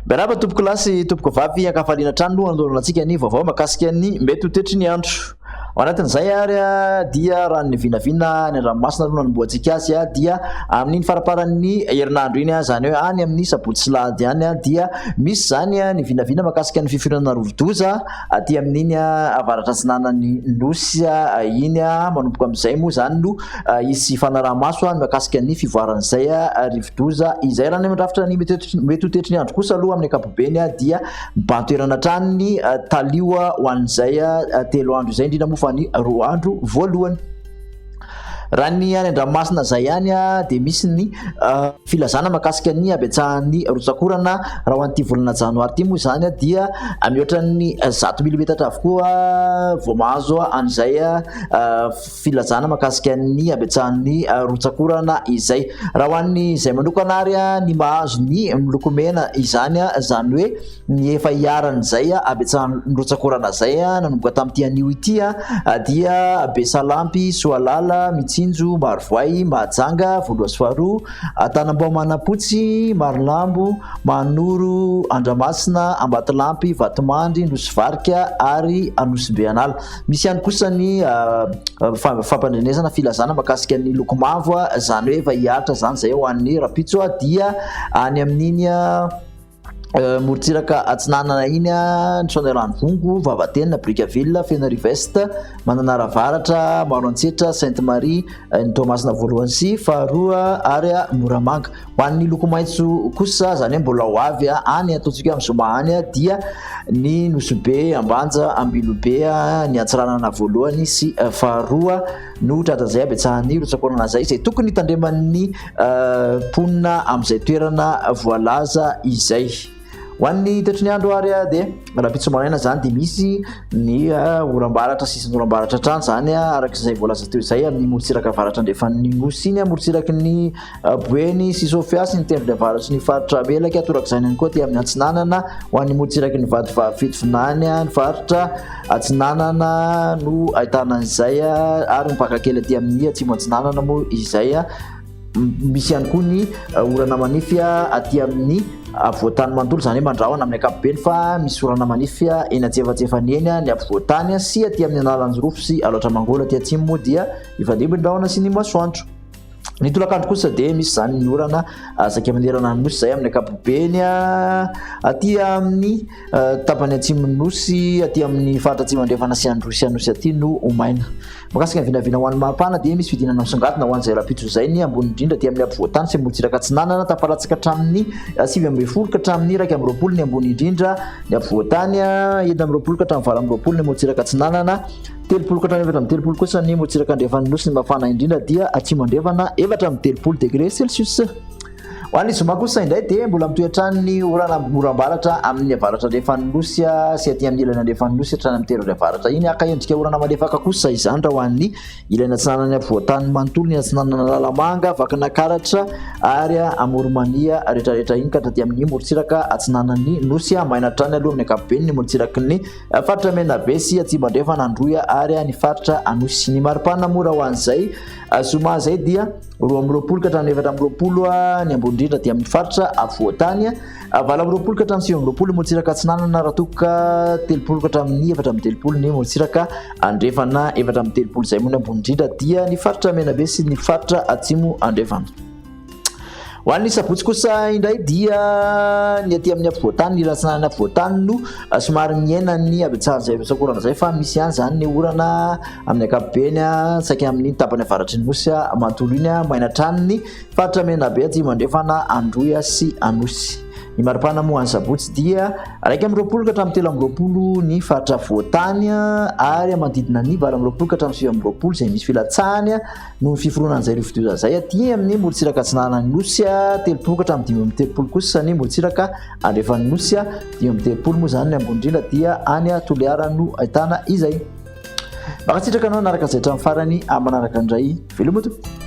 Miarahaba tompoko lahy sy tompoko vavy ankafaliana hatrany aloha andorana antsika ny vaovao makasika ny mety ho tetry ny andro. Ao anatin'izay ary dia raha ny vinavina any an-dranomasina aloha nanombohantsika azy dia amin'iny faramparan'ny herinandro iny izany hoe any amin'ny sabotsy sy lahady any dia Misy izany ny vinavina mahakasika ny fifoiranana rovi-doza aty amin'iny avaratra atsinanan'ny Nosy iny. Manomboka amin'izay moa izany no hisy fanaraha-maso ny mahakasika ny fivoaran'izay rivo-doza izay. Raha ny amin'ny rafitra ny mety ho tetry ny andro kosa aloha amin'ny ankapobeny dia mibahan-toerana hatrany ny talio ho an'izay telo andro izay, indrindra moa fa ny roa andro voalohany. Raha ny any an-dranomasina izay ihany dia misy ny ah, filazana makasika ny habetsahan'ny rotsakorana raha ho an'ity volana janoary ity moa izany dia mihoatran'ny zato milimetatra avokoa vao mahazo an'izay ah, filazana makasika ny habetsahan'ny ah, rotsakorana izay. Raha ho an'ny izay manokana ary ny mahazo ny miloko mena izany izany hoe Ny efa iharan'izay habetsahan'ny nirotsaka orana izay nanomboka tamin'ity anio ity dia Besalampy, Soalala, Mitsinjo, Marovoay, Mahajanga, Voaloha sy Faharoa, Antanambao Manampotsy, Marolambo, Mahanoro, Andramasina, Ambatolampy, Vatomandry, Nosivarika ary Anosibeanala. Misy ihany kosa ny fampandrenesana filazana makasika ny loko mavo izany hoe efa hihatra izany izay ho an'ny rahampitso dia any amin'iny Euh, morontsiraka atsinanana iny a ny saona rano vongo vavatena bricaville fenariva est mananara varatra maro antsetra sainte marie euh, ny toamasina voalohany sy faharoa ary a moramanga ho an'ny loko maitso kosa zany hoe mbola ho avy a any ataontsika amin'ny zoma any a dia ny nosobe ambanja ambilobe a ny antsiranana voalohany sy euh, faharoa no tratazay abetsahan'ny rotsakorana zay zay tokony hitandreman'ny mponina amin'izay toerana voalaza izay ho an'ny toetry ny andro ary dia rahampitso maraina zany dia misy ny orambaratra sisin'ny orambaratra hatrany zany araka izay voalaza teo izay amin'ny morotsiraka avaratra andrefan'ny nosy iny morotsiraky ny boeny sy sofia sy ny tendrony avaratry ny faritra melaka torak'izany ihany koa aty amin'ny atsinanana ho an'ny morotsiraky ny vadivavy fitovinany ny faritra atsinanana no ahitana izay ary mipakakely aty amin'ny atsimo atsinanana moa izay Misy ihany koa ny uh, orana manify uh, aty amin'ny afovoantany uh, manontolo, izany hoe mandrahona amin'ny ankapobeny fa misy orana manify eny antsefatsefany eny ny afovoantany sy aty amin'ny analanjirofo sy alaotra mangolo aty atsimo moa dia ifandimby ny rahona sy ny masoandro. Ny tolakandro kosa dia misy izany ny orana saika manerana ny nosy izay amin'ny ankapobeny aty amin'ny Tapany atsimon'ny Nosy aty amin'ny faritra atsimo andrefana sy Androsy Anosy aty no ho maina. Mikasika ny vinavina ho an'ny maripana dia misy fidinana misongadina ho an'izay rahampitso izay ny ambony indrindra aty amin'ny ampovoan-tany sy morontsiraka atsinanana tafaratsaka hatramin'ny eh, sivy ambin'ny folo ka hatramin'ny iraika amby roapolo ny ambony indrindra ny ampovoan-tany eh, enina amby roapolo ka hatramin'ny valo amby roapolo ny morontsiraka atsinanana telopolo ka hatramin'ny efatra amby telopolo kosa ny morontsiraka andrefan'ny nosy ny mafana indrindra dia atsimo andrefana efatra amby telopolo degré celsius Ho an'ny zoma kosa indray dia mbola mitohy hatrany ny orana oram-baratra amin'ny avaratra andrefan'ny nosy sy aty amin'ny ilany andrefan'ny nosy hatrany amin'ny tery ora avaratra iny. Haka endrika orana malefaka kosa izany raha ho an'ny ilany atsinanan'ny afovoantany manontolo, ny atsinanana Analamanga, Vakinakaratra ary Amoronmania rehetrarehetra iny ka hatraty amin'ny morontsiraka atsinanan'ny nosy. Maina hatrany aloha amin'ny ankapobeny ny morontsiraky ny faritra Menabe sy Atsimo Andrefana, Androy ary ny faritra Anosy. Ny maripana moa raha ho an'izay zoma izay dia. roa amby roapolo ka hatramin'ny efatra amby roapolo ny ambony indrindra aty amin'ny faritra afovoantany valo amby roapolo ka hatramin'ny sivy amby roapolo ny morotsiraka atsinanana raha toa ka telopolo ka hatramin'ny efatra amby telopolo ny morotsiraka andrefana efatra amby telopolo izay moa ny ambony indrindra dia ny faritra menabe sy ny faritra atsimo andrefana ho an'ny sabotsy kosa indray dia ny aty amin'ny afovoantany ny ratsinanana afovoantany no somary miaina ny abetsahan'izay rosakorana izay fa misy ihany izany ny orana Amin'ny ankapobeny, saika amin'ny tapany avaratry ny nosy manontolo iny, maina hatrany ny faritra Menabe atsimo andrefana, Androy sy Anosy. Ny maripana moa any Sabotsy dia iraika amby roapolo ka hatramin'ny telo amby roapolo ny faritra voatany ary manodidina ny valo amby roapolo ka hatramin'ny sivy amby roapolo izay misy filatsahany noho ny fiforonan'izay rivodoza izay aty amin'ny morontsiraka atsinanan'ny nosy, telopolo ka hatramin'ny dimy amby telopolo kosa ny morontsiraka andrefan'ny nosy, dimy amby telopolo moa izany ny ambony indrindra dia any Toliara no ahitana izay. Mankasitraka anao naraka izay hatramin'ny farany amin'ny manaraka indray. Veloma tompoko.